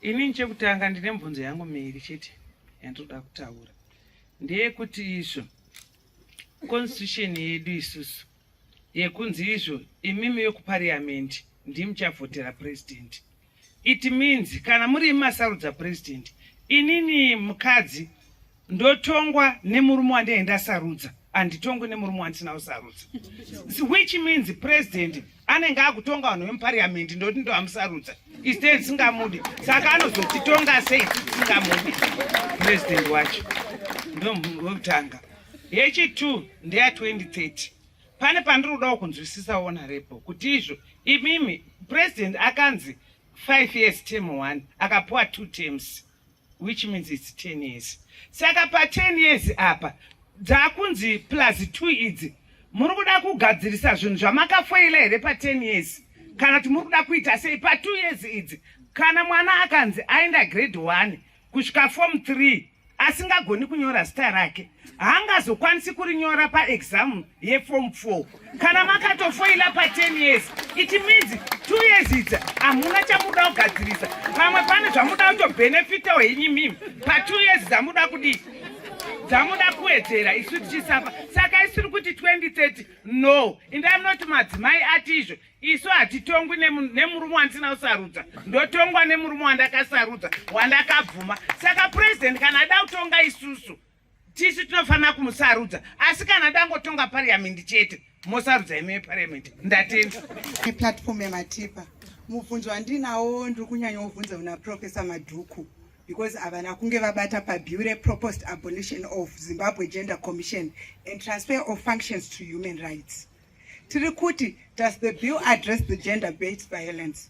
Ini chekutanga ndine mubvunzo yangu miri chete yandinoda kutaura ndeyekuti izvo constitution yedu isusu yekunzi izvo imimi yekupariamendi ndimuchavhotera president it means kana muri imasarudza president inini mukadzi ndotongwa nemurume wandee ndasarudza handitongwe nemurume wandisina kusarudza which means president anenge akutonga vanhu vemupariamendi ndoti ndoamusarudza iste ndisingamude saka anozotitonga sei tisingamude president wacho ndovekutanga yechitwo ndeya 2030 pane pandiri kudawo kunzwisisa honorepo kuti izvo imimi president akanzi five years term one akapuwa two terms which means its 10 years saka pa 10 years apa dzakunzi plus 2 idzi muri kuda kugadzirisa zvinhu zvamakafoila here pa 10 years kana kuti muri kuda kuita sei pa 2 years idzi kana mwana akanzi aenda grade 1 kusvika form 3 asingagoni kunyora zita rake haangazokwanisi kurinyora paexam yeform 4 kana makatofoila pa 10 years it means two years idzi hamuna chamuda kugadzirisa pamwe pane zvamuda kutobhenefitawo henyu mimi pa two years dzamuda kudii dzamuda kuwedzera isu tichisafa saka isiri kuti 2030 no indai munoti madzimai ati izvo isu hatitongwi nemurume wandisina kusarudza ndotongwa nemurume wandakasarudza wandakabvuma saka purezidenti kana ada kutonga isusu tisu tinofanira kumusarudza asi kana dangotonga pariyamendi chete mosarudza imi vepariyamendi ndatenda eplatform yamatipa mubvunzo wandinawo ndiri kunyanya wobvunza una profesa madhuku because havana kunge vabata pabure proposed abolition of zimbabwe gender commission and transfer of functions to human rights tiri kuti does the bill address the gender based violence